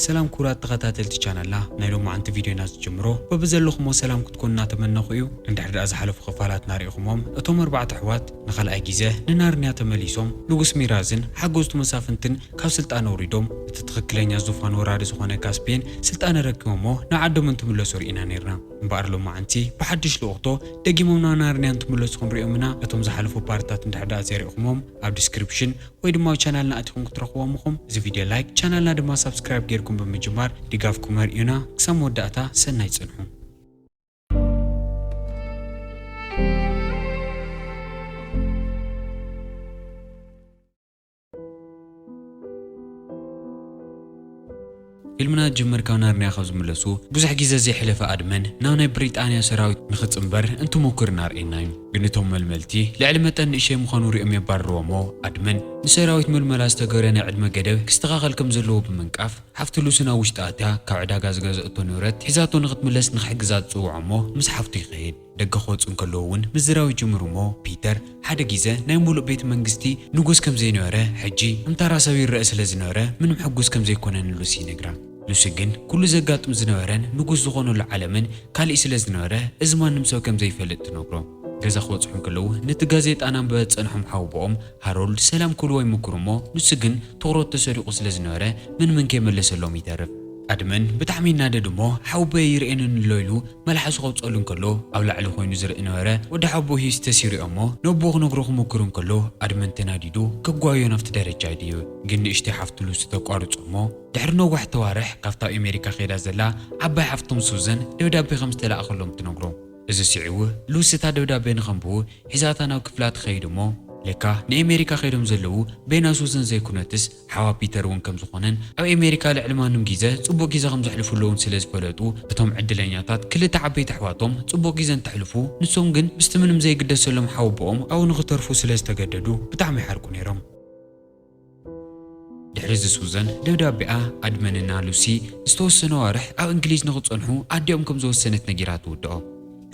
ሰላም ክቡራት ተኸታተልቲ ቻናልና ናይ ሎማዓንቲ ቪድዮና ዝጅምሮ በብዘለኹሞ ሰላም ክትኮኑ እናተመነኹ እዩ እንድሕር ድኣ ዝሓለፉ ክፋላትና ሪኢኹሞም እቶም ኣርባዕተ ኣሕዋት ንኻልኣይ ጊዘ ንናርንያ ተመሊሶም ንጉስ ሚራዝን ሓገዝቱ መሳፍንትን ካብ ስልጣን ኣውሪዶም እቲ ትኽክለኛ ዙፋን ወራሪ ዝኾነ ካስፔን ስልጣን ኣረኪቦሞ ናብ ዓዶም እንትምለሱ ሪኢና ኔርና እምበኣር ሎማዓንቲ ብሓድሽ ልኡኽቶ ደጊሞም ናብ ናርንያ እንትምለሱ ክንሪኦም ኢና እቶም ዝሓለፉ ፓርትታት እንድሕር ድኣ ዘይሪኢኹሞም ኣብ ዲስክሪፕሽን ወይ ድማ ኣብ ቻናልና ኣቲኹም ክትረኽብዎም እኹም። እዚ ቪድዮ ላይክ ቻናልና ድማ ሳብስክራይብ ጌርኩም ብምጅማር ድጋፍኩም ኣርእዩና። ክሳብ መወዳእታ ሰናይ ጽንሑ። ፊልምና ጅምር ካብ ናርንያ ካብ ዝምለሱ ብዙሕ ግዜ ዘይሕለፈ ኣድመን ናብ ናይ ብሪጣንያ ሰራዊት ንክጽንበር እንትሙኩር ናርእየና ዩ ግን እቶም መልመልቲ ልዕሊ መጠን ንእሸይ ምዃኑ ሪኦም የባርርዎሞ ኣድመን ንሰራዊት ምልመላ ዝተገበረ ናይ ዕድመ ገደብ ክስተኻኸል ከም ዘለዎ ብምንቃፍ ሓፍቲ ሉሲ ናብ ውሽጢ ኣትያ ካብ ዕዳጋ ዝገዘእቶ ንብረት ሒዛቶ ንክትምለስ ንክሕግዛ ትጽውዖሞ ምስ ሓፍቱ ይኸይድ ደገ ክወጹ እንከለዉ እውን ምዝራብ ይጅምሩ እሞ ፒተር ሓደ ጊዘ ናይ ሙሉእ ቤት መንግስቲ ንጉስ ከም ዘይነበረ ሕጂ እምታራ ሰብ ይረእ ስለ ዝነበረ ምንም ሕጉስ ከም ዘይኮነ ንሉሲ ይነግራ ሉሲ ግን ኩሉ ዘጋጥም ዝነበረን ንጉስ ዝኾነሉ ዓለምን ካሊእ ስለ ዝነበረ እዚ ማንም ሰብ ከም ዘይፈልጥ ትነግሮ። ገዛ ክበጽሑ እንከለዉ ነቲ ጋዜጣ እናንበበ ዝጸንሖም ሓውቦኦም ሃሮልድ ሰላም ክብልዎ ይምኩሩ እሞ ኑሲ ግን ትኹረቱ ተሰሪቁ ስለ ዝነበረ ምንምን ከይመለሰሎም ይተርፍ። ኣድመን ብጣዕሚ ይናደድ እሞ ሓውቦይ ኣይርእየንን'ሎ ኢሉ መልሓሱ ከውጸሉ እንከሎ ኣብ ላዕሊ ኮይኑ ዝርኢ ነበረ ወዲ ሓውቦይ ሂስ ተሲሩ እዩ'ሞ ነቦኡ ክነግሮ ክሙክር እንከሎ ኣድመን ተናዲዱ ከጓይዮ ናብቲ ደረጃ ይድይብ ግን ንእሽተይ ሓፍቱ ሉሲ ተቋርጾ እሞ ድሕሪ ነዋሕቲ ኣዋርሕ ካብታ ኣብ ኤመሪካ ከይዳ ዘላ ዓባይ ሓፍቶም ሱዘን ደብዳቤ ከም ዝተላእከሎም ትነግሮ እዚ ስዒቡ ሉሲ እታ ደብዳቤ ንከንብቡ ሒዛታ ናብ ክፍላ ትከይድ እሞ ለካ ንኤመሪካ ከይዶም ዘለዉ ቤና ሱዘን ዘይኩነትስ ሓዋ ፒተር እውን ከም ዝኾነን ኣብ ኣሜሪካ ልዕሊ ማንም ጊዘ ጽቡቕ ጊዘ ከም ዘሕልፉ ኣለውን ስለ ዝፈለጡ እቶም ዕድለኛታት ክልተ ዓበይቲ ኣሕዋቶም ጽቡቕ ጊዘ እንተሕልፉ ንሶም ግን ምስቲ ምንም ዘይግደሰሎም ሓወቦኦም ኣብኡ ንኽተርፉ ስለ ዝተገደዱ ብጣዕሚ ይሓርቁ ነይሮም። ድሕሪ እዚ ሱዘን ደብዳቤኣ ኣድመንና ሉሲ ንዝተወሰነ ኣዋርሕ ኣብ እንግሊዝ ንኽጸንሑ ኣዲኦም ከም ዝወሰነት ነጊራ ትውድኦ።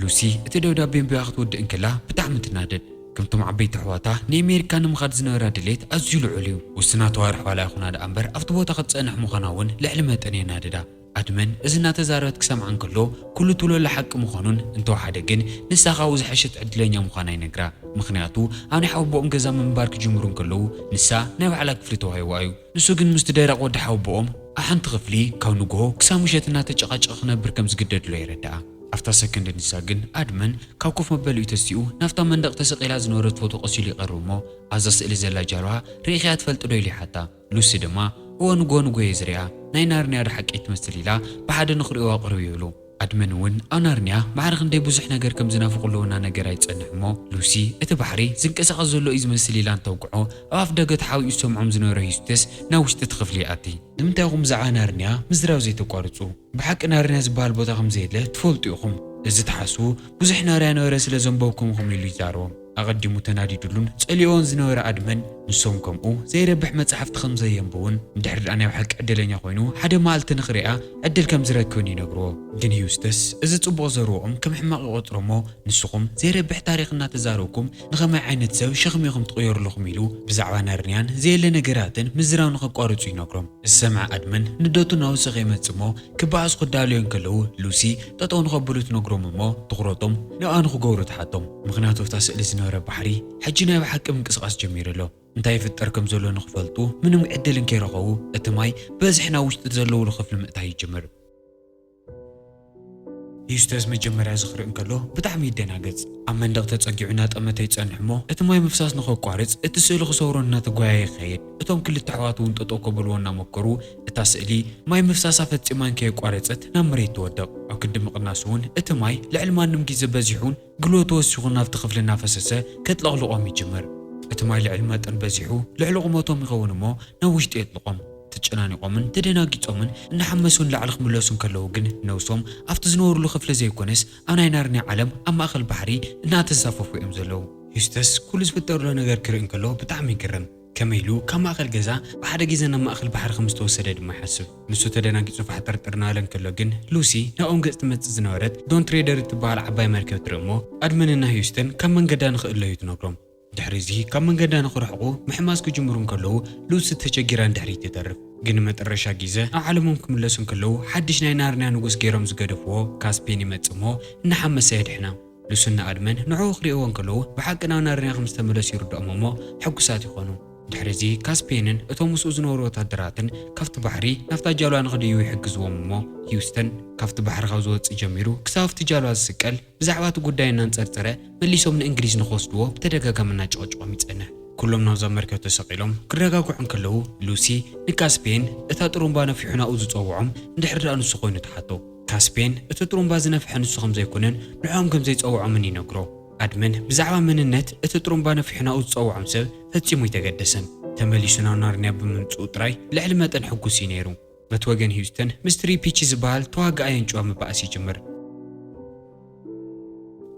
ሉሲ እቲ ደብዳቤ ኣንቢባ ክትውድእ እንከላ ብጣዕሚ ትናደድ። ከምቶም ዓበይቲ ኣሕዋታ፣ ንኤሜሪካ ንምኻድ ዝነበራ ድሌት ኣዝዩ ልዑል እዩ። ውስናት ኣዋርሕ ዋላ ይኹና ደኣ እምበር፣ ኣብቲ ቦታ ክትጸንሕ ምዃና እውን ልዕሊ መጠን የናድዳ። ኣድመን እዚ እናተዛረበት ክሰምዓ እንከሎ፣ ኩሉ ትብሎ ዘሎ ሓቂ ምዃኑን እንተወሓደ ግን ንሳ ካብኡ ዝሐሸት ዕድለኛ ምዃና ይነግራ። ምኽንያቱ ኣብ ናይ ሓወቦኦም ገዛ ምንባር ክጅምሩ እንከለዉ፣ ንሳ ናይ ባዕላ ክፍሊ ተዋሂብዋ እዩ። ንሱ ግን ምስቲ ደረቕ ወዲ ሓወቦኦም ኣሓንቲ ክፍሊ ካብ ንጉሆ ክሳብ ምሸት እናተጨቓጨቐ ክነብር ከም ዝግደድ'ሎ የረድኣ። ኣብታ ሰከንድ ንሳ ግን ኣድመን ካብ ኮፍ መበሊኡ ተሲኡ ናብታ መንደቕ ተሰቒላ ዝነበረት ፎቶ ቀሲሉ ይቐርብ'ሞ ኣብዛ ስእሊ ዘላ ጃልዋ ርኢኺያ ትፈልጢ'ዶ ኢሉ ይሓታ። ሉሲ ድማ እወ ንጉሆ ንጉሆ'የ ዝሪኣ ናይ ናርንያ'ዶ ሓቀይ ትመስል ኢላ ብሓደ ንኽሪኦ'ዋ ቅርብ ይብሉ። ኣድመን እውን ኣብ ናርንያ ማዕረ ክንደይ ብዙሕ ነገር ከም ዝናፍቕሉ እናነገራ ይጸንሕ እሞ፣ ሉሲ፣ እቲ ባሕሪ ዝንቀሳቐስ ዘሎ እዩ ዝመስል ኢላ እንተውግዖ፣ ኣብ ኣፍደገ ተሓቢኡ ዝሰምዖም ዝነበረ ዩስቲስ ናብ ውሽጢ እቲ ክፍሊ ይኣቲ። ንምንታይ ኢኹም ብዛዕባ ናርንያ ምዝራብ ዘይተቋርጹ? ብሓቂ ናርንያ ዝበሃል ቦታ ከም ዘየለ ትፈልጡ ኢኹም። እዚ ትሓስቡ ብዙሕ ናርያ ነበረ ስለ ዘንበብኩም ኢኹም ኢሉ ይዛረቦም። ኣቐዲሙ ተናዲዱሉን ጸሊኦን ዝነበረ ኣድመን፣ ንሶም ከምኡ ዘይረብሕ መጻሕፍቲ ከም ዘየንብቡን፣ እንድሕሪ ድኣ ናይ ብሓቂ ዕድለኛ ኮይኑ ሓደ መኣልቲ ንኽርእያ ዕድል ከም ዝረክብን ይነግርዎ። ግን ዩስተስ እዚ ጽቡቕ ዘርወኦም ከም ሕማቕ ይቖጽሮ'ሞ፣ ንስኹም ዘይረብሕ ታሪኽ እናተዛረብኩም ንኸማይ ዓይነት ሰብ ሸኽሚ ኢኹም ትቕየሩ ኣለኹም ኢሉ ብዛዕባ ናርንያን ዘየለ ነገራትን ምዝራብ ንኸቋርጹ ይነግሮም። ዝሰምዐ ኣድመን ንደቱ ናብኡ ስቕ ይመጽእ'ሞ፣ ክበኣሱ ክዳለዩ እንከለዉ ሉሲ ጠጠው ንኸብሉ ትነግሮም እሞ ትኹረቶም ንኣ ንኽገብሩ ትሓቶም። ምኽንያቱ ኣብታ ስእሊ ዝነበረ ባሕሪ ሕጂ ናይ ብሓቂ ምንቅስቓስ ጀሚሩ ኣሎ። እንታይ ይፍጠር ከም ዘሎ ንኽፈልጡ ምንም ዕድል እንከይረኸቡ እቲ ማይ ብበዝሒ ናብ ውሽጢ ዘለውሉ ክፍሊ ምእታይ ይጅምር። ዩስተስ መጀመርያ እዚ ክርኢ እንከሎ ብጣዕሚ ይደናገጽ። ኣብ መንደቕ ተጸጊዑ እናጠመተ ይጸንሕ እሞ እቲ ማይ ምፍሳስ ንኸቋርጽ እቲ ስእሊ ክሰብሮ እናተጓየየ ይኸይድ። እቶም ክልተ ኣሕዋት እውን ጠጠው ከብልዎ እናሞከሩ እታ ስእሊ ማይ ምፍሳሳ ፈጺማ እንከየቋረጸት ናብ መሬት ትወድቕ። ኣብ ክንዲ ምቕናሱ እውን እቲ ማይ ልዕሊ ማንም ግዜ በዚሑን ግልዎ ተወሲኹን ናብቲ ክፍሊ እናፈሰሰ ከጥለቕልቖም ይጅምር። እቲ ማይ ልዕሊ መጠን በዚሑ ልዕሊ ቁመቶም ይኸውን እሞ ናብ ውሽጢ የጥልቖም። ተጨናኒቖምን ተደናጊጾምን እናሓመሱ ንላዕሊ ክምለሱ እንከለዉ ግን ነብሶም ኣብቲ ዝነበሩሉ ክፍሊ ዘይኮነስ ኣብ ናይ ናርንያ ዓለም ኣብ ማእከል ባሕሪ እናተንሳፈፉ እዮም ዘለዉ። ዩስተስ ኩሉ ዝፍጠር ዘሎ ነገር ክርኢ እንከሎ ብጣዕሚ ይግረም። ከመይ ኢሉ ካብ ማእከል ገዛ ብሓደ ግዜ ናብ ማእከል ባሕሪ ከም ዝተወሰደ ድማ ይሓስብ። ንሱ ተደናጊጹ ፋሕጠርጠር እናበለ እንከሎ ግን፣ ሉሲ ናብኦም ገጽ ትመጽእ ዝነበረት ዶን ትሬደር እትበሃል ዓባይ መርከብ ትርኢ እሞ፣ ኣድመንን ን ህዩስተን ካብ መንገዳ ንኽእለዩ ትነግሮም። ድሕሪ እዚ ካብ መንገዳ ንኽርሕቁ ምሕማስ ክጅምሩ እንከለዉ፣ ሉሲ ተቸጊራ ንድሕሪት ትተርፍ። ግን ንመጠረሻ ግዘ ናብ ዓለሞም ክምለሱ እንከለዉ፣ ሓድሽ ናይ ናርንያ ንጉስ ገይሮም ዝገደፍዎ ካስፔን ይመጽእ እሞ እናሓመሰ የድሕና። ንሱና ኣድመን ንዕኡ ክርእይዎ እንከለዉ ብሓቂ ናብ ናርንያ ከም ዝተመለሱ ይርድኦም እሞ ሕጉሳት ይዀኑ። ድሕርዚ ካስፔንን እቶም ምስኡ ዝነበሩ ወተሃደራትን ካብቲ ባሕሪ ናብታ ጃልባ ንኽድይቡ ይሕግዝዎም እሞ ሂውስተን ካብቲ ባሕሪ ካብ ዝወጽእ ጀሚሩ ክሳብ ኣብቲ ጃልባ ዝስቀል ብዛዕባ እቲ ጕዳይ እናንጸርጸረ መሊሶም ንእንግሊዝ ንኽወስድዎ ብተደጋጋሚ እናጨቐጨቖም ይጸንሕ። ኵሎም ናብዛ መርከብ ተሰቒሎም ክረጋግዑ እንከለዉ ሉሲ ንካስፔን እታ ጥሩምባ ነፊሑ ናብኡ ዝጸውዖም እንድሕሪ ደኣ ንሱ ኰይኑ ትሓቶ። ካስፔን እቲ ጥሩምባ ዝነፍሐ ንሱ ከም ዘይኮነን ንዕኦም ከም ዘይጸውዖምን ይነግሮ። ኣድመን ብዛዕባ መንነት እቲ ጥሩምባ ነፊሑ ናብኡ ዝጸውዖም ሰብ ፈጺሙ ኣይተገደሰን። ተመሊሱ ናብ ናርንያ ብምምጽኡ ጥራይ ልዕሊ መጠን ሕጉስ እዩ ነይሩ። በቲ ወገን ሂዩስተን ምስ ትሪፒቺ ዝበሃል ተዋጋኣይ ኣንጭዋ ምባኣስ ይጅምር።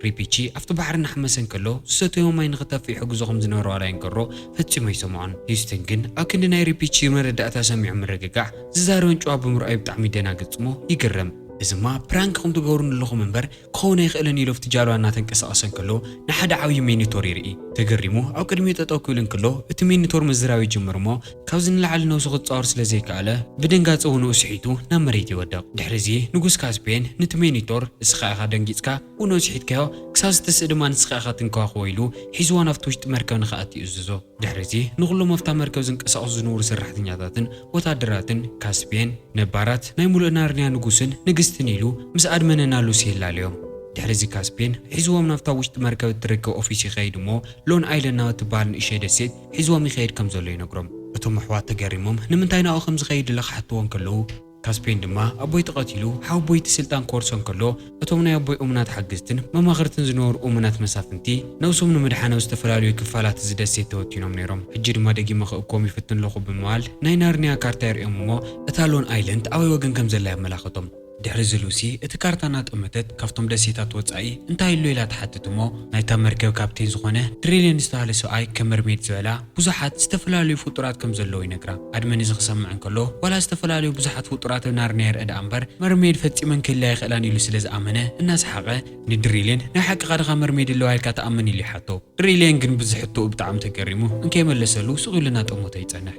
ሪፒቺ ኣብቲ ባሕሪ እናሓመሰ እንከሎ ዝሰተዮ ማይ ንኽተፍእ ይሕግዞ ከም ዝነበረ ዋላ የንገሮ ፈጺሙ ኣይሰምዖን። ሂዩስትን ግን ኣብ ክንዲ ናይ ሪፒቺ መረዳእታ ሰሚዑ ምርግጋዕ፣ ዝዛረበን ጭዋ ብምርኣዩ ብጣዕሚ ይደናገጽ እሞ ይግረም። እዚማ ፕራንክ ኹም ትገብሩኒ ኣለኹም እምበር ክኸውን ኣይኽእልን ኢሉ ኣብቲ ጃልባ እናተንቀሳቐሰ እንከሎ ንሓደ ዓብዪ ሚኒቶር ይርኢ። ተገሪሙ ኣብ ቅድሚኡ ጠጠው ክብል እንከሎ እቲ ሚኒቶር ምዝራብ ይጅምር እሞ ካብዚ ንላዕሊ ነብሱ ክጻወር ስለ ዘይከኣለ፣ ብድንጋጸ ውኑኡ ስሒቱ ናብ መሬት ይወድቕ። ድሕሪዚ ንጉስ ካስፔን ንቲ ሜኒቶር፣ እስኻ ኢኻ ደንጊጽካ ውኑኡ ስሒትካዮ፣ ክሳብ ዝትስእ ድማ ንስኻ ኢኻ ትንከባኸቦ ኢሉ ሒዝዎ ናብቲ ውሽጢ መርከብ ንኽኣቲ ይእዝዞ። ድሕሪዚ ንኹሎም ኣብታ መርከብ ዝንቀሳቐሱ ዝንብሩ ሰራሕተኛታትን ወተሃደራትን ካስፔን፣ ነባራት ናይ ምሉእ ናርንያ ንጉስን ንግስትን ኢሉ ምስ ኣድመነ ና ሉሲ የላልዮም። ድሕሪዚ ካስፔን ሒዝዎም ናብታ ውሽጢ መርከብ እትርከብ ኦፊስ ይኸይድ እሞ ሎን ኣይለን ናብ እትበሃል ንእሸተይ ደሴት ሒዝዎም ይኸይድ ከም ዘሎ ይነግሮም። እቶም ኣሕዋት ተገሪሞም ንምንታይ ናብኡ ከም ዝኸይድ ኢለ ክሓትዎ እንከለዉ፣ ካስፔን ድማ ኣቦይ ተቐቲሉ ሓወቦይ እቲ ስልጣን ክወርሶ እንከሎ እቶም ናይ ኣቦይ እሙናት ሓገዝትን መማኽርትን ዝነበሩ እሙናት መሳፍንቲ ነብሶም ንምድሓን ኣብ ዝተፈላለዩ ክፋላት እዚ ደሴት ተበቲኖም ነይሮም ሕጂ ድማ ደጊመ ክእክቦም ይፍትን ኣለኹ ብምባል ናይ ናርንያ ካርታ የርእዮም እሞ እታ ሎን ኣይለንድ ኣበይ ወገን ከም ዘላ የመላኽቶም። ድሕሪ እዚ ሉሲ እቲ ካርታ እናጠመተት ካብቶም ደሴታት ወጻኢ እንታይ ኣሎ ኢላ ትሓትት እሞ ናይታ መርከብ ካፕቴን ዝኾነ ድሪሊን ዝተባህለ ሰብኣይ ከም መርሜድ ዝበላ ብዙሓት ዝተፈላለዩ ፍጡራት ከም ዘለዉ ይነግራ። ኣድመን እዚ ክሰምዕ እንከሎ ዋላ ዝተፈላለዩ ብዙሓት ፍጡራት ኣብ ናርንያ ይርእ ደኣ እምበር መርሜድ ፈጺመን ክህልያ ኣይኽእላን ኢሉ ስለ ዝኣመነ እናሰሓቐ ንድሪሊን ናይ ሓቅኻ ድኻ መርሜድ ኣለዋ ኢልካ ትኣምን ኢሉ ይሓቶ። ድሪሊን ግን ብዚ ሕቶኡ ብጣዕሚ ተገሪሙ እንከይመለሰሉ ስቕ ኢሉ እናጠመቶ ይጸንሕ።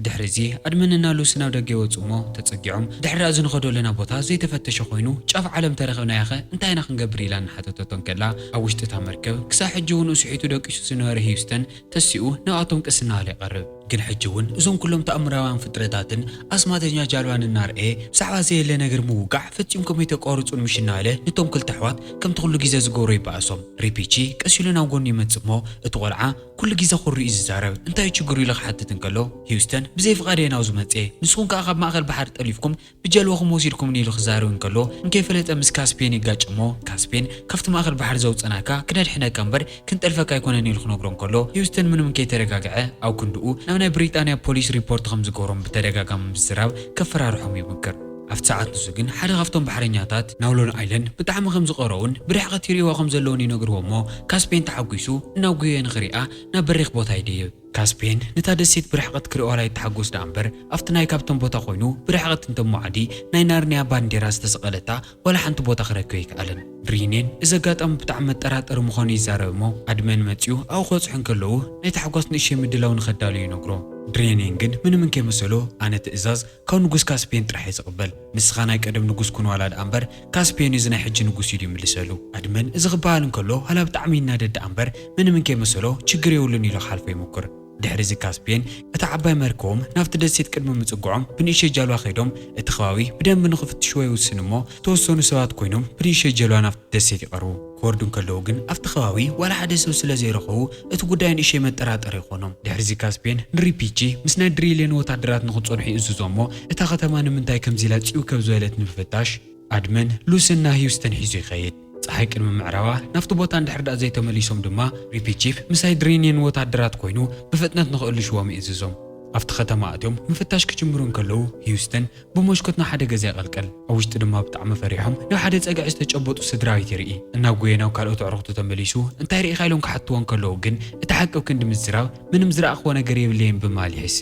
ድሕሪዚ ኣድመነና ሉሲ ናብ ደገ ይወጹ እሞ ተጸጊዖም ድሕሪ ኣዚ ንኸዶ ለና ቦታ ዘይተፈተሸ ኮይኑ ጫፍ ዓለም ተረኽብናያኸ እንታይ ኢና ክንገብር ኢላ እናሓተተቶ እንከላ ኣብ ውሽጢ እታ መርከብ ክሳዕ ሕጂ ውን እሱሒቱ ደቂሱ ዝነበረ ህዩስተን ተሲኡ ናብኣቶም ቅስና ኣለ ይቐርብ ግን ሕጂ ውን እዞም ኩሎም ተኣምራውያን ፍጥረታትን ኣስማተኛ ጃልባን እናርኣየ ብዛዕባ ዘየለ ነገር ምውጋዕ ፈጺምኩም ኣይተቋርጹን ምሽ እናበለ ንቶም ክልተ ኣሕዋት ከምቲ ኩሉ ጊዘ ዝገብሮ ይበኣሶም ሪፒቺ ቀስ ኢሉ ናብ ጎኑ ይመጽእ እሞ እቲ ቆልዓ ኩሉ ግዜ ኩሩ እዩ ዝዛረብ እንታይ እዩ ችግሩ ኢሉ ክሓትት እንከሎ ሂውስተን ብዘይ ፍቃደይ ናብዙ መጼ ንስኩም ከኣ ካብ ማእከል ባሕሪ ጠሊፍኩም ብጀልባኩም ወሲድኩምኒ ኢሉ ክዛረብ እንከሎ እንከይፈለጠ ምስ ካስፔን ይጋጭ እሞ ካስፔን ካብቲ ማእከል ባሕሪ ዘውጸናካ ክነድሕነካ እምበር ክንጠልፈካ ኣይኮነን ኢሉ ክነግሮ እንከሎ ሂውስተን ምንም እንከይተረጋገዐ ኣብ ክንድኡ ናብ ናይ ብሪጣንያ ፖሊስ ሪፖርት ከምዝገብሮም ብተደጋጋሚ ምስዝራብ ከፈራርሖም ይምክር ኣብቲ ሰዓት ንሱ ግን ሓደ ካብቶም ባሕረኛታት ናብ ሎን ኣይለንድ ብጣዕሚ ከም ዝቐረኡን ብርሕቐት ይርእይዎ ከም ዘለዉን ይነግርዎ'ሞ ካስፔን ተሓጒሱ እናጒየየ ንኽሪኣ ናብ በሪኽ ቦታ ይድይብ። ካስፔን ነታ ደሴት ብርሕቐት ክርእዮ'ላ ይተሓጎስ ደኣ'ምበር ኣብቲ ናይ ካብቶም ቦታ ኮይኑ ብርሕቐት እንተ እሞ ዓዲ ናይ ናርንያ ባንዴራ ዝተሰቐለታ ዋላ ሓንቲ ቦታ ክረክብ ኣይከኣለን። ሪኔን እዚ ኣጋጣሚ ብጣዕሚ መጠራጠሪ ምዃኑ ይዛረብ'ሞ ኣድመን መጺኡ ኣብኡ ክበጽሑ እንከለዉ ናይ ታሕጓስ ንእሽተይ ምድላው ንኸዳልው ይነግሮ። ሪኔን ግን ምንም እንከይመሰሎ ኣነ ትእዛዝ ካብ ንጉስ ካስፔን ጥራሕ እየ ዝቅበል ንስኻ ናይ ቀደም ንጉስ ኩን ዋላ ድኣ እምበር ካስፔን እዩ እዚ ናይ ሕጂ ንጉስ እዩ ድዩ ምልሰሉ። ኣድመን እዚ ክበሃል እንከሎ ሃላ ብጣዕሚ ይናደድ ደኣ እምበር ምንም እንከይመሰሎ ችግር የብሉን ኢሉ ክሓልፎ ይሙኩር። ድሕሪ እዚ ካስፔን እታ ዓባይ መርከቦም ናብቲ ደሴት ቅድሚ ምጽግዖም ብንእሸይ ጃልባ ከይዶም እቲ ከባቢ ብደንቢ ንክፍትሽዎ ይውስኑ እሞ ዝተወሰኑ ሰባት ኮይኖም ብንእሸይ ጀልባ ናብቲ ደሴት ይቀርቡ። ክወርዱ እንከለዉ ግን ኣብቲ ከባቢ ዋላ ሓደ ሰብ ስለ ዘይረኸቡ እቲ ጉዳይ ንእሸይ መጠራጠሪ ይኾኖም። ድሕሪዚ ካስፔን ንሪፒቺ ምስ ናይ ድሪሊዮን ወታደራት ንክፀንሑ ይእዝዞ እሞ እታ ከተማ ንምንታይ ከምዚ ኢላ ፂውከብ ዝበለት ንምፍታሽ ኣድመን፣ ሉስን እና ሂውስተን ሒዙ ይኸይድ። ፀሓይ ቅድሚ ምዕራባ ናብቲ ቦታ እንድሕር ድኣ ዘይተመሊሶም ድማ ሪፒቺፍ ምሳይ ድሪኒዮን ወታደራት ኮይኑ ብፍጥነት ንክእልሽዎም ይእዝዞም። ኣብቲ ከተማ ኣትዮም ምፍታሽ ክጅምሩ እንከለዉ ሂውስተን፣ ብሞሽኮት ናብ ሓደ ገዛ ይቐልቀል። ኣብ ውሽጢ ድማ ብጣዕሚ ፈሪሖም ናብ ሓደ ጸግዒ ዝተጨበጡ ስድራቤት ይርኢ። እናጎየ ናብ ካልኦት ኣዕሩኽቱ ተመሊሱ እንታይ ርኢኻ ኢሎም ክሓትዎ እንከለዉ ግን እቲ ሓቂ ኣብ ክንዲ ምዝራብ ምንም ዝረኣኽዎ ነገር የብለይን ብምባል ይሕሲ።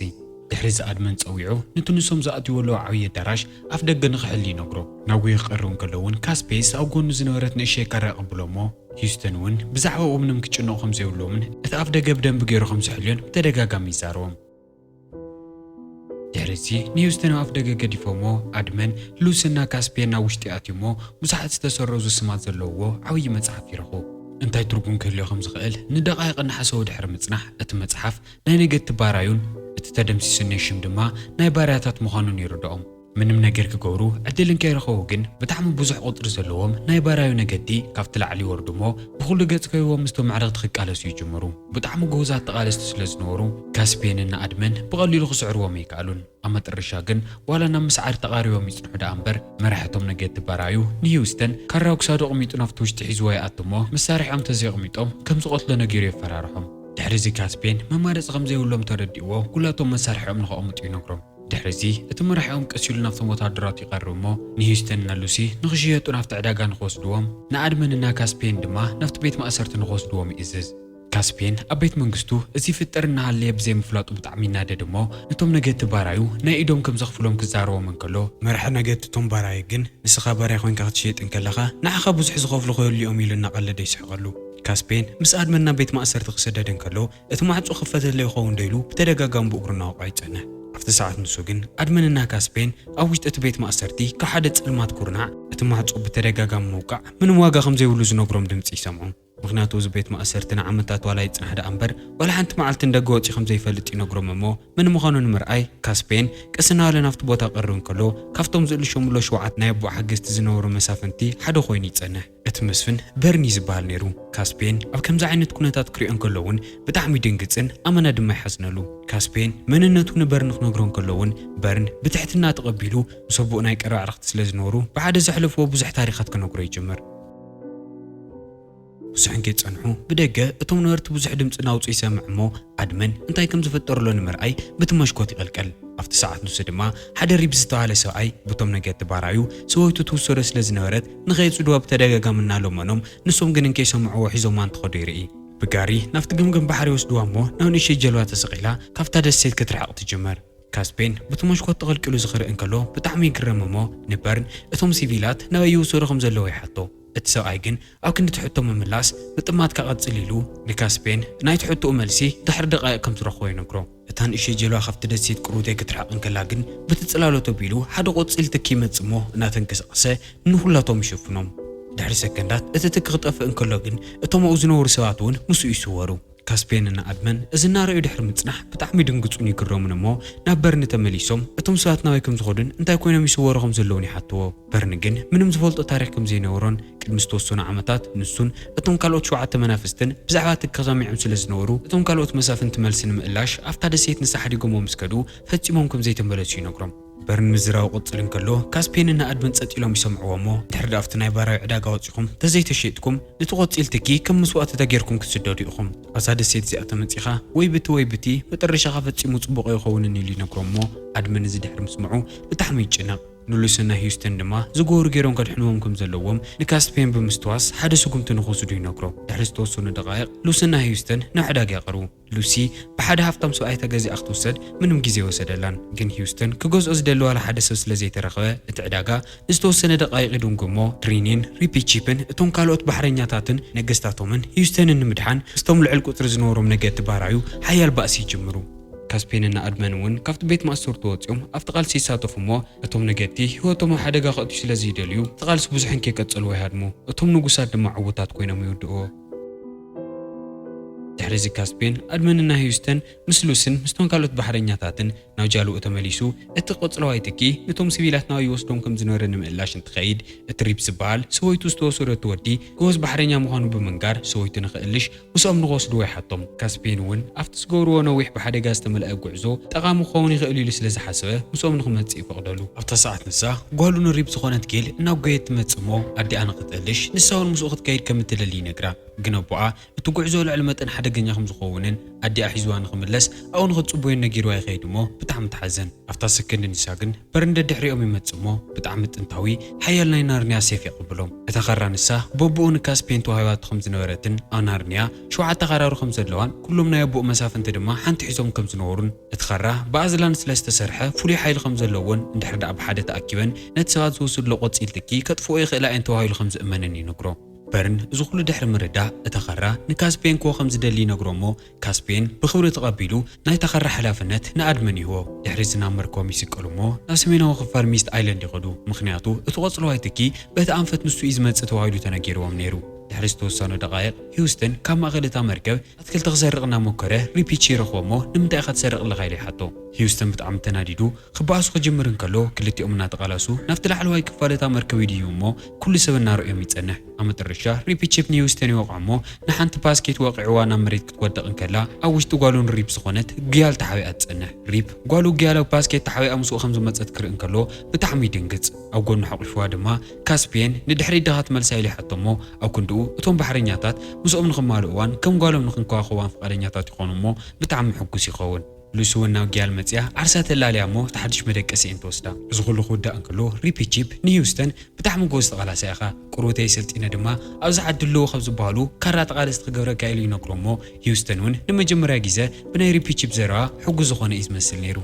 ድሕሪ እዚ ኣድመን ጸዊዑ ኑቲ ንሶም ዝኣትውዎ ኣለዉ ዓብዪ ኣዳራሽ ኣፍ ደገ ንኽሕሉ ይነግሮ። እናጎየ ክቐርብ እንከሎ እውን ካስፔስ ኣብ ጎኑ ዝነበረት ንእሽተይ ካራ የቐብሎ እሞ ሂዩስተን እውን ብዛዕባኡ ምንም ክጭነቑ ከም ዘይብሎምን እቲ ኣፍ ደገ ብደንቢ ገይሩ ከም ዝሕልዮን ብተደጋጋሚ ይዛረቦም። ድሕሪዚ ንሂውስተን ኣብ ኣፍደገ ገዲፎሞ ኣድመን ሉስን ናብ ካስፒየን ናብ ውሽጢ ኣትዮሞ ብዙሓት ዝተሰረዙ ስማት ዘለውዎ ዓብዪ መጽሓፍ ይረኽቡ። እንታይ ትርጉም ክህልዮ ከም ዝኽእል ንደቓይቕ እናሓሰቡ ድሕሪ ምጽናሕ እቲ መጽሓፍ ናይ ነገድቲ ባራዩን እቲ ተደምሲሱ ዝኔ ሽም ድማ ናይ ባርያታት ምዃኑን ይርድኦም። ምንም ነገር ክገብሩ ዕድል እንከይረኸቡ ግን ብጣዕሚ ብዙሕ ቁጽሪ ዘለዎም ናይ ባራዩ ነገድቲ ካብቲ ላዕሊ ይወርዱ እሞ ብኹሉ ገጽ ከቢቦም ምስቶም ኣዕርኽቲ ክቃለሱ ይጅምሩ። ብጣዕሚ ግሁዛት ተቓለስቲ ስለ ዝነበሩ ካስፔንን ንኣድመን ብቐሊሉ ክስዕርዎም ኣይከኣሉን። ኣብ መጠረሻ ግን ዋላ ናብ ምስዓር ተቓሪቦም ይጽንሑ ደኣ እምበር መራሒ እቶም ነገድቲ ባራዩ ንሂውስተን ካራ ኣብ ክሳዱ ኣቕሚጡ ናብቲ ውሽጢ ሒዝዎ ይኣቱ እሞ መሳርሒኦም ተዘየቕሚጦም ከም ዝቐትሎ ነጊሩ የፈራርሖም። ድሕሪዚ ካስፔን መማረጺ ከም ዘይብሎም ተረዲእዎ ኩላቶም መሳርሒኦም ንኸቕምጡ ይነግሮም። ድሕሪዚ እቲ መራሒኦም ቀስ ኢሉ ናብቶም ወተሃደራቱ ይቐርብ እሞ ንሂዩስተን እና ሉሲ ንኽሽየጡ ናብቲ ዕዳጋ ንኽወስድዎም፣ ንኣድመን እና ካስፔን ድማ ናብቲ ቤት ማእሰርቲ ንኽወስድዎም ይእዝዝ። ካስፔን ኣብ ቤት መንግስቱ እዚ ይፍጠር እናሃለየ ብዘይምፍላጡ ብጣዕሚ ይናደድ እሞ ነቶም ነገድቲ ባራዩ ናይ ኢዶም ከም ዘኽፍሎም ክዛረቦም እንከሎ፣ መራሒ ነገድቲ እቶም ባራዩ ግን ንስኻ ባርያ ኮይንካ ክትሽየጥ እንከለኻ ንዓኻ ብዙሕ ዝኸፍሉ ከየሉ እዮም ኢሉ እናቐለደ ይስሕቐሉ። ካስፔን ምስ ኣድመን ናብ ቤት ማእሰርቲ ክስደድ እንከሎ፣ እቲ ማዕጾ ክፈተለይ ይኸውን ዶ ኢሉ ብተደጋጋሚ ብእግሩ እናወቕዐ ይጸንሕ። ኣብቲ ሰዓት ንሱ ግን ኣድመን እና ካስፔን ኣብ ውሽጢ እቲ ቤት ማእሰርቲ ካብ ሓደ ጸልማት ኩርናዕ እቲ ማዕጾ ብተደጋጋሚ ምውቃዕ ምንም ዋጋ ከም ዘይብሉ ዝነግሮም ድምጺ ይሰምዑ። ምኽንያቱ እዚ ቤት ማእሰርቲ ንዓመታት ዋላ ይጽናሕ ደኣ እምበር ዋላ ሓንቲ መዓልቲ ንደገ ወጺኡ ከም ዘይፈልጥ ይነግሮም እሞ መን ምዃኑ ንምርኣይ ካስፔን ቀስ እናበለ ናብቲ ቦታ ክቐርብ እንከሎ ካብቶም ዝእልሾምሎ ሸውዓተ ናይ ኣቦኡ ሓገዝቲ ዝነበሩ መሳፍንቲ ሓደ ኮይኑ ይጸንሕ። እቲ መስፍን በርኒ ዝብሃል ነይሩ። ካስፔን ኣብ ከምዚ ዓይነት ኩነታት ክሪኦ እንከሎ እውን ብጣዕሚ ይድንግጽን ኣመና ድማ ይሓዝነሉ። ካስፔን መንነቱ ንበርኒ ክነግሮ እንከሎ እውን በርን ብትሕትና ተቐቢሉ ምስ ኣቦኡ ናይ ቀረባ ኣዕርኽቲ ስለ ዝነበሩ ብሓደ ዘሕለፍዎ ብዙሕ ታሪኻት ክነግሮ ይጅምር። ብዙሕ እንከይጸንሑ ብደገ እቶም ነበርቲ ብዙሕ ድምጺ ናውጹ ይሰምዕ እሞ ኣድመን እንታይ ከም ዝፍጠርሎ ንምርኣይ ብቲ መሽኮት ይቕልቀል። ኣብቲ ሰዓት ንሱ ድማ ሓደ ሪብ ዝተብሃለ ሰብኣይ ብቶም ነገድቲ ባራዩ ሰበይቱ ትውሰዶ ስለ ዝነበረት ንኸየጽድዋ ብተደጋጋሚ እናለመኖም፣ ንሶም ግን እንከይሰምዕዎ ሒዞማ እንትኸዱ ይርኢ። ብጋሪ ናብቲ ገምገም ባሕሪ ይወስድዋ እሞ ናብ ንእሽተይ ጀልባ ተሰቒላ ካብታ ደሴት ክትርሕቕ ትጅምር። ካስፔን በቲ ሞሽኮት ተቐልቂሉ ዝኽርእ እንከሎ ብጣዕሚ ይግረም እሞ ንበርን እቶም ሲቪላት ናበይ ይውሰዱ ከም ዘለዉ ይሓቶ። እቲ ሰብኣይ ግን ኣብ ክንዲ እቲ ሕቶ ምምላስ ምጥማትካ ቀጽል ኢሉ ንካስፔን ናይቲ ሕቶኡ መልሲ ድሕሪ ደቓይቕ ከም ዝረኽቦ ይነግሮ። እታ ንእሽተይ ጀልባ ካብቲ ደሴት ቅሩቴ ክትርሕቕ እንከላ ግን በቲ ጽላሎት ኣቢሉ ሓደ ቆጺል ትኪ ይመጽእ እሞ እናተንቀሳቐሰ ንዅላቶም ይሸፍኖም። ድሕሪ ሰከንዳት እቲ ትኪ ክጠፍእ እንከሎ ግን እቶም ኣብኡ ዝነበሩ ሰባት እውን ምስኡ ይስወሩ። ካስፔንን ኣድመን እዚ እናረኣዩ ድሕሪ ምጽናሕ ብጣዕሚ ይድንግጹን ይግረሙን እሞ ናብ በርኒ ተመሊሶም እቶም ሰባት ናበይ ከም ዝኸዱን እንታይ ኰይኖም ይስወሩ ከም ዘለዉን ይሓትዎ። በርን ግን ምንም ዝፈልጦ ታሪኽ ከም ዘይነበሮን ቅድሚ ዝተወሰኑ ዓመታት ንሱን እቶም ካልኦት ሸውዓተ መናፍስትን ብዛዕባ እቲ ከሰሚዖም ስለ ዝነበሩ እቶም ካልኦት መሳፍንቲ መልሲ ንምእላሽ ኣብታ ደሴት ንሳ ሓዲጎምዎ ምስ ከዱ ፈጺሞም ከም ዘይተመለሱ ይነግሮም። በርን ምዝራቡ ክቕጽል እንከሎ ካስፔንን ናኣድምን ጸጥ ኢሎም ይሰምዕዎ እሞ ድሕሪ'ዳ ኣብቲ ናይ ባራዩ ዕዳጋ ወጺኹም ተዘይተሸይጥኩም ንቲ ቆጺል ትኪ ከም መስዋእቲታ ጌርኩም ክትስደዱ ኢኹም ኣብዛ ደሴት እዚኣ ተመጺኻ ወይ ብቲ ወይ ብቲ መጠረሻኻ ፈጺሙ ጽቡቕ ኣይኸውንን ኢሉ ይነግሮም እሞ ኣድመ ነዚ ድሕሪ ምስምዑ ብጣዕሚ ይጭነቕ ንሉስን ናይ ሂዩስተን ድማ ዝገበሩ ገይሮም ከድሕንዎም ከም ዘለዎም ንካስፐየን ብምስትዋስ ሓደ ስጉምቲ ንክወስዱ ይነግሮ። ድሕሪ ዝተወሰኑ ደቓይቕ ሉስን ናይ ሂዩስተን ናብ ዕዳጋ ይቐርቡ። ሉሲ ብሓደ ሃፍታም ሰብኣይ ተገዚኣ ክትውሰድ ምንም ግዜ ኣይወሰደላን። ግን ሂዩስተን ክገዝኦ ዝደሊ ዋላ ሓደ ሰብ ስለ ዘይተረኽበ እቲ ዕዳጋ ንዝተወሰነ ደቓይቕ ይድንጉ እሞ ትሪኒን ሪፒቺፕን እቶም ካልኦት ባሕረኛታትን ነገስታቶምን ሂዩስተንን ንምድሓን ምስቶም ልዕል ቁጽሪ ዝነበሮም ነገድቲ ባራዩ ሓያል ባእሲ ይጅምሩ። ካስፔንን ኣድመን እውን ካብቲ ቤት ማእሰርቲ ወጺኦም ኣብቲ ቃልሲ ይሳተፉ እሞ እቶም ነገድቲ ህይወቶም ኣብ ሓደጋ ከእትዩ ስለ ዝይደልዩ እቲ ቃልሲ ብዙሕ እንከይቀጸልዎ ይሃድሙ። እቶም ንጉሳት ድማ ዕዉታት ኮይኖም ይውድእዎ። ድሕሪዚ ካስፔን፣ ኣድመንን ናይ ህዩስተን ምስ ሉስን ምስቶም ካልኦት ባሕረኛታትን ናብ ጃልኡ ተመሊሱ። እቲ ቀጽለዋይ ትኪ ንቶም ስቪላት ናበይ ይወስዶም ከም ዝነበረ ንምእላሽ እንትኸይድ እቲ ሪፕ ዝበሃል ሰበይቱ ዝተወሰደቱ ወዲ ጎበዝ ባሕረኛ ምዃኑ ብምንጋር ሰበይቱ ንክእልሽ ምስኦም ንኽወስድዎ ይሓቶም። ካስፔን እውን ኣብቲ ዝገብርዎ ነዊሕ ብሓደጋ ዝተመልአ ጕዕዞ ጠቓሚ ክኸውን ይኽእል ኢሉ ስለ ዝሓሰበ ምስኦም ንኽመጽእ ይፈቕደሉ። ኣብታ ሰዓት ንሳ፣ ጓሉ ንሪብ ዝዀነት ጌል እናጐየየት ትመጽእ እሞ ኣዲኣ ንኽትእልሽ ንሳ እውን ምስኡ ክትከይድ ከም እትደሊ ይነግራ። ግን ኣቦኣ እቲ ጕዕዞ ልዕሊ መጠን ሓደገኛ ከም ዝኸውንን ኣዲኣ ሒዝዋ ንኽምለስ ኣብኡ ንኽትጽቡዮን ነጊርዋ ይኸይድ እሞ ብጣዕሚ ትሓዝን። ኣብታ ሰከንድ ንሳ ግን በር ንደድሕሪኦም ይመጽእ እሞ ብጣዕሚ ጥንታዊ ሓያል ናይ ናርንያ ሴፍ የቐብሎም። እታ ካራ ንሳ በቡኡ ንካስፔን ተዋሂባቶ ከም ዝነበረትን ኣብ ናርንያ ሸውዓተ ካራሩ ከም ዘለዋን ኩሎም ናይ ኣቡኡ መሳፍንቲ ድማ ሓንቲ ሒዞም ከም ዝነበሩን እቲ ካራ ብኣዝላን ስለ ዝተሰርሐ ፍሉይ ሓይሊ ከም ዘለዎን እንድሕር ደኣ ብሓደ ተኣኪበን ነቲ ሰባት ዝወስድሎ ቆጺል ትኪ ከጥፍእኦ ይኽእላ እየን ተባሂሉ ከም ዝእመንን ይነግሮ። በርን እዚ ኩሉ ድሕሪ ምርዳእ እታ ካራ ንካስፔን ክወ ከም ዝደሊ ይነግሮ እሞ ካስፔን ብኽብሪ ተቐቢሉ ናይ ተኸራ ሓላፍነት ንኣድመን ይህቦ። ድሕሪ'ዚ ናብ መርከቦም ይስቀሉ እሞ ናብ ሰሜናዊ ክፋል ሚስት ኣይለንድ ይኸዱ፣ ምኽንያቱ እቲ ቆጽለዋይ ትኪ በቲ ኣንፈት ንሱ እዩ ዝመጽእ ተባሂሉ ተነጊርዎም ነይሩ። ድሕሪ ዝተወሰኑ ደቓይቕ ሂውስተን ካብ ማእከል እታ መርከብ ኣትክልቲ ክሰርቕ እናሞከረ ሪፒቺ ይረኽቦ እሞ ንምንታይ ኢኻ ትሰርቕ ኣለኻ ኢሉ ይሓቶ። ሂውስተን ብጣዕሚ ተናዲዱ ክበኣሱ ክጅምር እንከሎ ክልቲኦም እናተቓላሱ ናብቲ ላዕለዋይ ክፋል እታ መርከብ ይድይቡ እሞ ኩሉ ሰብ እናረኣዮም ይጸንሕ። ኣብ መጠረሻ ሪፒ ቺፕ ንሂውስተን ይወቕዖ'ሞ ንሓንቲ ባስኬት ወቒዕዋ ናብ መሬት ክትወድቕ እንከላ ኣብ ውሽጢ ጓሉ ንሪፕ ዝኾነት ግያል ተሓቢኣ ትጸንሕ። ሪፕ ጓሉ ግያል ኣብ ባስኬት ተሓቢኣ ምስኡ ከም ዝመጸት ክርኢ እንከሎ ብጣዕሚ ይድንግጽ። ኣብ ጎኑ ሓቝፍዋ ድማ ካስፕየን ንድሕሪት ዲኻ ትመልሳ ኢሉ ይሓቶ'ሞ ኣብ ክንድኡ እቶም ባሕረኛታት ምስኦም ንኽማልእዋን ከም ጓሎም ንኽንከባኸብዋን ፍቓደኛታት ይኾኑ'ሞ ብጣዕሚ ሕጉስ ይኸውን። ሉሲ ውን ናብ ጊያል መጺኣ ዓርሳ ተላልያ እሞ እቲ ሓድሽ መደቀሲ እየን ትወስዳ። እዚ ኩሉ ክውዳእ እንከሎ ሪፒ ቺፕ ንሂውስተን ብጣዕሚ ጎበዝ ተቓላሳይ ኢኻ ቁርብተይ ሰልጢነ ድማ ኣብዚ ዓዲ ኣለዉ ካብ ዝበሃሉ ካራ ተቓለስቲ ክገብረካ ኢሉ ይነግሮ እሞ ሂውስተን ውን ንመጀመርያ ጊዘ ብናይ ሪፒ ቺፕ ዘረባ ሕጉስ ዝኾነ እዩ ዝመስል ኔሩ።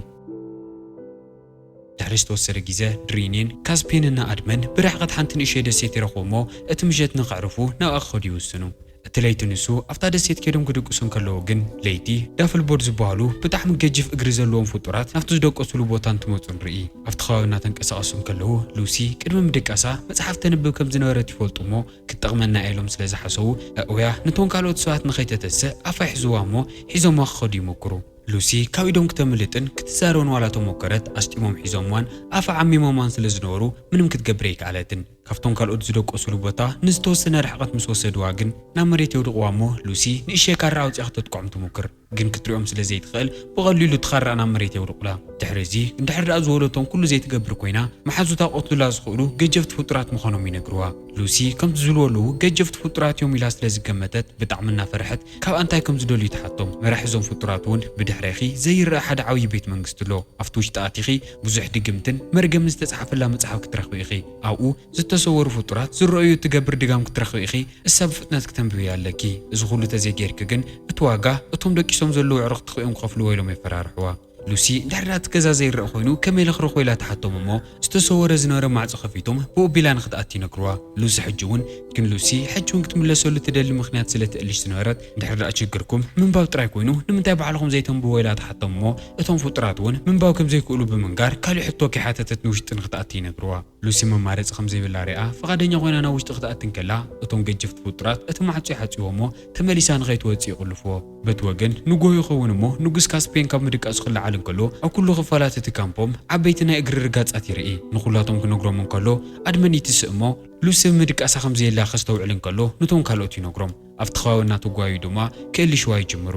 ድሕሪ ዝተወሰነ ግዜ፣ ድሪኒን ካስፔንን ንኣድመን ብርሕቐት ሓንቲ ንእሽተይ ደሴት ይረኽቡ እሞ እቲ ምሸት ንኸዕርፉ ናብኣ ክኸዱ ይውስኑ። እቲ ለይቲ ንሱ ኣብታ ደሴት ከይዶም ክድቅሱ እንከለዉ ግን ለይቲ፣ ዳፍልቦርድ ዝበሃሉ ብጣዕሚ ገጅፍ እግሪ ዘለዎም ፍጡራት ናብቲ ዝደቀሱሉ ቦታ እንትመጹ ንርኢ። ኣብቲ ከባቢ እናተንቀሳቐሱ እንከለዉ ሉሲ ቅድሚ ምድቃሳ መጽሓፍ ተንብብ ከም ዝነበረት ይፈልጡ እሞ ክትጠቕመና እያ ኢሎም ስለ ዝሓሰቡ ኣእውያ ንቶም ካልኦት ሰባት ንኸይተተስእ ኣፋ ይሕዙዋ እሞ ሒዞምዋ ክኸዱ ይሙኩሩ። ሉሲ ካብ ኢዶም ክተምልጥን ክትዛረብን ዋላ ተሞከረት፣ ኣስጢሞም ሒዞምዋን ኣፋ ዓሚሞምዋን ስለ ዝነበሩ ምንም ክትገብር ኣይከኣለትን። ካብቶም ካልኦት ዝደቆሱሉ ቦታ ንዝተወሰነ ርሕቐት ምስ ወሰድዋ ግን ናብ መሬት የውድቕዋ'ሞ ሉሲ ንእሽተይ ካራ ኣውጺኣ ክተጥቅዖም ትሙክር። ግን ክትሪኦም ስለ ዘይትኽእል ብቐሊሉ እቲ ካራ ናብ መሬት የውድቑላ። ድሕሪ'ዚ እንድሕር ደኣ ዝወለቶም ኩሉ ዘይትገብር ኮይና መሓዙታ ክቐትሉላ ዝኽእሉ ገጀፍቲ ፍጡራት ምዃኖም ይነግሩዋ። ሉሲ ከምቲ ዝልወልዉ ገጀፍቲ ፍጡራት'ዮም ኢላ ስለ ዝገመተት ብጣዕሚ እናፈርሐት ካብ ኣንታይ ከም ዝደልዩ ትሓቶም መራሒ እዞም ፍጡራት ውን ብድሕሬኺ ዘይረኣ ሓደ ዓብዪ ቤት መንግስቲ ኣሎ ኣብቲ ውሽጢ ኣቲኺ ብዙሕ ድግምትን መርገምን ዝተጻሕፈላ መጽሓፍ ክትረኽቢ ኢኺ ኣብኡ ዝተሰወሩ ፍጡራት ዝረእዩ እትገብር ድጋም ክትረኽቢ ኢኺ እሳ ብፍጥነት ክተንብብያ ኣለኪ እዚ ኩሉ ተዘይጌርኪ ግን እቲ ዋጋ እቶም ደቂሶም ዘለዉ ኣዕሩኽትኺ እዮም ክኸፍልዎ ኢሎም የፈራርሕዋ ሉሲ ድሕሪ ናቲ ገዛ ዘይረኣ ኮይኑ ከመይ ኢለ ክረኽቦ ኢላ ትሓቶም እሞ ዝተሰወረ ዝነበረ ማዕጾ ከፊቶም ብኡ ኣቢላ ንክትኣቲ ይነግርዋ ሉሲ ሕጂ ውን ግን ሉሲ ሕጂ ውን ክትምለሰሉ ትደሊ ምኽንያት ስለ ትእልሽ ዝነበረት ድሕሪ ደኣ ችግርኩም ምንባብ ጥራይ ኮይኑ ንምንታይ ባዕልኹም ዘይተንብብዎ ኢላ ትሓቶም እሞ እቶም ፍጡራት ውን ምንባብ ከም ዘይክእሉ ብምንጋር ካልእ ሕቶ ከይሓተተት ንውሽጢ ንክትኣቲ ይነግርዋ ሉሲ መማረጺ ከም ዘይብላ ሪኣ ፍቓደኛ ኮይና ናብ ውሽጢ ክትኣቲ እንከላ እቶም ገጀፍቲ ፍጡራት እቲ ማዕጾ ይሓጽይዎ እሞ ተመሊሳ ንኸይትወጽእ ይቑልፍዎ በቲ ወገን ንጎሆ ይኸውን እሞ ንጉስ ካስፔን ካብ ምድቃሱ ክለዓል እንከሎ ኣብ ኩሉ ክፋላት እቲ ካምፖም ዓበይቲ ናይ እግሪ ርጋጻት ይርኢ። ንኹላቶም ክነግሮም እንከሎ ኣድመን ይትስእ እሞ ሉሲ ኣብ ምድቃሳ ከም ዘየላ ከስተውዕል እንከሎ ኑቶም ካልኦት ይነግሮም። ኣብቲ ከባቢ እናተጓየዩ ድማ ክእልሽዋ ይጅምሩ።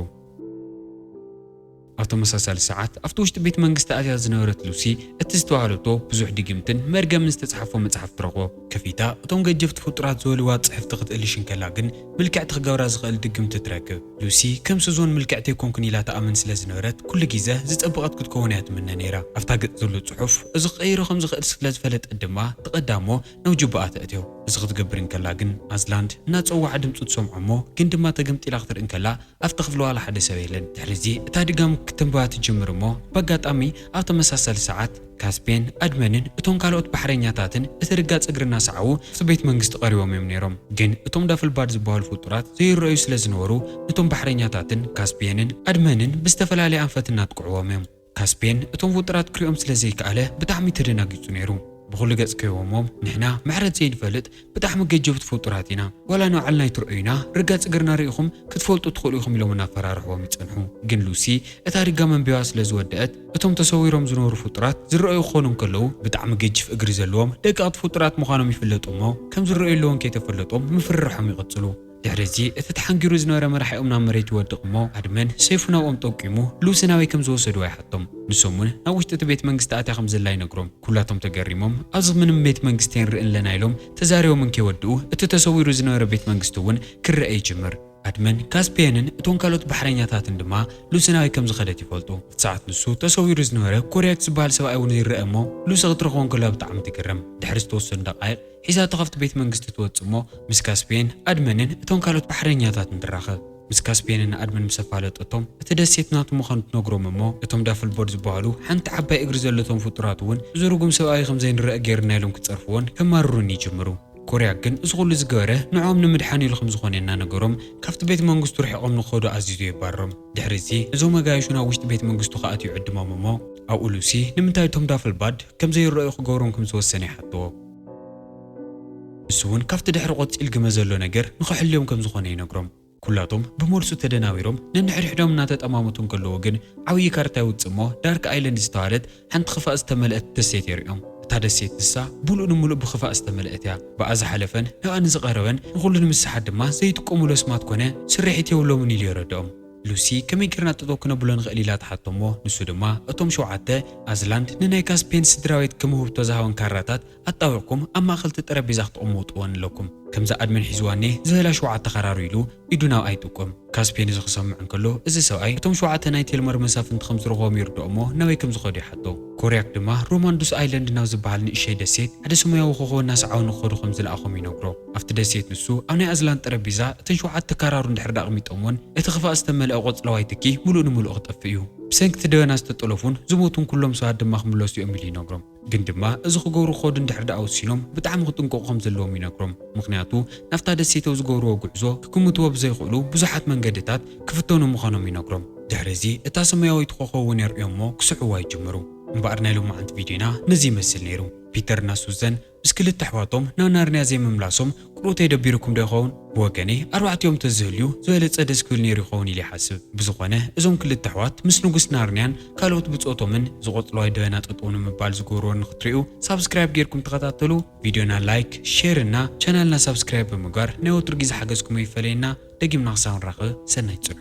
ኣብ ተመሳሳሊ ሰዓት፣ ኣብቲ ውሽጢ ቤት መንግስቲ ኣትያ ዝነበረት ሉሲ፣ እቲ ዝተባህለቶ ብዙሕ ድግምትን መርገምን ዝተጻሕፎ መጽሓፍ ትረኽቦ። ከፊታ እቶም ገጀፍቲ ፍጡራት ዝበልዋ ጽሕፍቲ ክትእልሽ እንከላ ግን፣ ምልክዕቲ ክገብራ ዝኽእል ድግምቲ ትረክብ። ሉሲ፣ ከም ሱዞን ምልክዕቲ ኣይኮንኩን ኢላ ትኣምን ስለ ዝነበረት፣ ኩሉ ግዘ ዝጸበቐት ክትከውን እያ ትምነ ነይራ። ኣብታ ገጽ ዘሎ ጽሑፍ እዚ ክቕይሮ ከም ዝኽእል ስለ ዝፈለጠት ድማ፣ ትቐዳ እሞ ናብ ጁባኣ ተእትዮ። እዚ ክትገብር እንከላ ግን፣ ኣዝላንድ እናጸወዓ ድምጹ ትሰምዖ እሞ ግን ድማ ተገምጢላ ክትርኢ እንከላ፣ ኣብቲ ክፍሊ ዋላ ሓደ ሰብ የለን። ድሕሪዚ እታ ድጋም ክትንበባ ትጅምር እሞ በጋጣሚ ኣብ ተመሳሳሊ ሰዓት ካስፔን ኣድመንን እቶም ካልኦት ባሕረኛታትን እቲ ርጋጽ እግሪ እናሰዓቡ ኣብቲ ቤት መንግስቲ ቀሪቦም እዮም ነይሮም። ግን እቶም ዳፍልባድ ዝበሃሉ ፍጡራት ዘይረኣዩ ስለ ዝነበሩ ነቶም ባሕረኛታትን ካስፔንን ኣድመንን ብዝተፈላለየ ኣንፈት እናጥቅዕዎም እዮም። ካስፔን እቶም ውጥራት ክሪኦም ስለ ዘይከኣለ ብጣዕሚ ተደናጊጹ ነይሩ። ብኹሉ ገጽ ከይወሞም ንሕና ምሕረት ዘይንፈልጥ ብጣዕሚ ገጀብቲ ፍጡራት ኢና ዋላ ንባዕልና ኣይትርኦዩና ርጋጽ እግርና ሪኢኹም ክትፈልጡ ትኽእሉ ኢኹም ኢሎም እናፈራርሕዎም ይጸንሑ ግን ሉሲ እታ ሪጋ መንቢባ ስለ ዝወደኣት እቶም ተሰዊሮም ዝነበሩ ፍጡራት ዝረኣዩ ክኾኑ እንከለዉ ብጣዕሚ ገጅፍ እግሪ ዘለዎም ደቀቕቲ ፍጡራት ምዃኖም ይፍለጥ እሞ ከም ዝረኣዩ ኣለዎም ከይተፈለጦም ምፍርራሖም ይቕጽሉ። ድሕሪ እዚ እቲ ተሓንጊሩ ዝነበረ መራሒኦም ናብ መሬት ይወድቕ እሞ ኣድመን ሰይፉ ናብኦም ጠቂሙ ልኡሰ ናበይ ከም ዝወሰድዋ ይሓቶም። ንሶም እውን ናብ ውሽጢ እቲ ቤት መንግስቲ ኣትያ ከም ዘላ ይነግሮም። ኩላቶም ተገሪሞም ኣብዚ ምንም ቤት መንግስቲ ኣይንርእን ኣለና ኢሎም ተዛሪቦም እንከይወድኡ እቲ ተሰዊሩ ዝነበረ ቤት መንግስቲ እውን ክረኣ ይጅምር። ኣድመን ካስፒየንን እቶም ካልኦት ባሕረኛታትን ድማ ልኡሰ ናበይ ከም ዝኸደት ይፈልጡ። ኣብቲ ሰዓት ንሱ ተሰዊሩ ዝነበረ ኮርያክስ ዝበሃል ሰብኣይ እውን ይረኣ እሞ ልኡሰ ክትረኽቦ እንከላ ብጣዕሚ ትግረም። ድሕሪ ዝተወሰኑ ደቓይቕ። ሒዛቶ ካብቲ ቤት መንግስቲ ትወጽእ እሞ ምስ ካስፕየን፣ ኣድመንን እቶም ካልኦት ባሕረኛታትን ትራኸብ። ምስ ካስፕየንን ንኣድመን ምስ ኣፋለጠቶም እቲ ደሴት ናቱ ምዃኑ ትነግሮም እሞ እቶም ዳፍልቦርድ ዝበሃሉ ሓንቲ ዓባይ እግሪ ዘለቶም ፍጡራት እውን እዚ ርጉም ሰብኣይ ከም ዘይንረኣ ገይርና ኢሎም ክጸርፍዎን ከማርሩን ይጅምሩ። ኮርያክ ግን እዚ ኩሉ ዝገበረ ንዕኦም ንምድሓን ኢሉ ከም ዝኾነ እናነገሮም ካብቲ ቤት መንግስቱ ርሒቖም ንክኸዱ ኣዚዙ የባርሮም። ድሕሪ እዚ እዞም ኣጋይሹ ናብ ውሽጢ ቤት መንግስቱ ክኣትው ይዕድሞም እሞ ኣብኡ ሉሲ ንምንታይ እቶም ዳፍልባድ ከም ዘይረኣዩ ክገብሮም ከም ዝወሰነ ይሓትዎ። ንሱ እውን ካብቲ ድሕሪ ቆጺል ግመ ዘሎ ነገር ንኸሕልዮም ከም ዝኾነ ይነግሮም። ኩላቶም ብመልሱ ተደናቢሮም ነንሕድሕዶም እናተጠማመቱ እንከለዉ ግን ዓብዪ ካርታ ይውጽእ እሞ ዳርክ ኣይለንድ ዝተባህለት ሓንቲ ኽፋእ ዝተመልአት ደሴት የርእዮም። እታ ደሴት ንሳ ምሉእ ንምሉእ ብኽፋእ ዝተመልአት እያ። ብኣ ዝሓለፈን ንኣ ንዝቐረበን ንኹሉ ንምስሓት ድማ ዘይጥቀሙሉ ኣስማት ኮነ ስርሒት የብሎምን ኢሉ የረድኦም። ሉሲ ከመይ ጌርና ጠጠው ክነብሎ ንኽእል ኢላ ትሓቶ'ሞ ንሱ ድማ እቶም ሸውዓተ ኣዝላንድ ንናይ ካስፔን ስድራቤት ከም ውህብቶ ዝሃወን ካራታት ኣጣዊቕኩም ኣብ ማእኸል'ቲ ጠረጴዛ ክትቕምውጥወን ኣለኩም። ከምዛ ኣድመን ሒዝዋኔ ዝህላ ሸውዓተ ካራሩ ኢሉ ኢዱ ናብ ኣይ ጠቆም። ካስፔን እዚ ክሰምዕ እንከሎ እዚ ሰብኣይ እቶም ሸውዓተ ናይ ቴልመር መሳፍንቲ ከም ዝረኽቦም ይርድኦ'ሞ ናበይ ከም ዝኸዱ ይሓቶ። ኮርያክ ድማ ሮማንዱስ ኣይለንድ ናብ ዝበሃል ንእሸይ ደሴት ሓደ ሰሙያዊ ኮኾብ እናሰዓቡ ንክኸዱ ከም ዝለኣኾም ይነግሮ። ኣብቲ ደሴት ንሱ ኣብ ናይ ኣዝላን ጠረጴዛ እተን ሸውዓተ ካራሩ እንድሕር ድኣ ኣቕሚጦምወን እቲ ክፋእ ዝተመልኣ ቆጽለዋይ ትኪ ምሉእ ንምሉእ ክጠፍእ እዩ። ብሰንኪ እቲ ደበና ዝተጠለፉን ዝሞቱን ኩሎም ሰባት ድማ ክምለሱ እዮም ኢሉ ይነግሮም። ግን ድማ እዚ ክገብሩ ክኸዱ እንድሕር ድኣ ወሲኖም ብጣዕሚ ክጥንቀቑ ከም ዘለዎም ይነግሮም። ምኽንያቱ ናብታ ደሴት ኣብ ዝገብርዎ ጉዕዞ ክግምትዎ ብዘይኽእሉ ብዙሓት መንገድታት ክፍተኑ ምዃኖም ይነግሮም። ድሕሪ እዚ እታ ሰማያዊት ኾኾብ እውን የርእዮምዎ ክስዕብዋ ይጅምሩ። እምበኣር ናይ ሎማዓንቲ ቪድዮና ነዚ ይመስል ነይሩ። ፒተር እና ሱዘን ምስ ክልተ ኣሕዋቶም ናብ ናርንያ ዘይምምላሶም ቅርውተይ ደቢሩኩም ዶ ይኸውን? ብወገነይ ኣርባዕቲኦም ተዝህልዩ ዝበለጸ ደስ ክብል ነይሩ ይኸውን ኢለ ይሓስብ። ብዝኾነ እዞም ክልተ ኣሕዋት ምስ ንጉስ ናርንያን ካልኦት ብጾቶምን ዝቐጽሎ ኣይደበና ጠጠው ንምባል ዝገብርዎ ንኽትሪኡ ሳብስክራይብ ጌርኩም ተኸታተሉ ቪድዮና ላይክ ሼር እና ቻናልና ሳብስክራይብ ብምግባር ናይ ወትሩ ግዜ ሓገዝኩም ኣይፈለየና ደጊምና ክሳብ ንራኸብ ሰናይ ጽንሑ።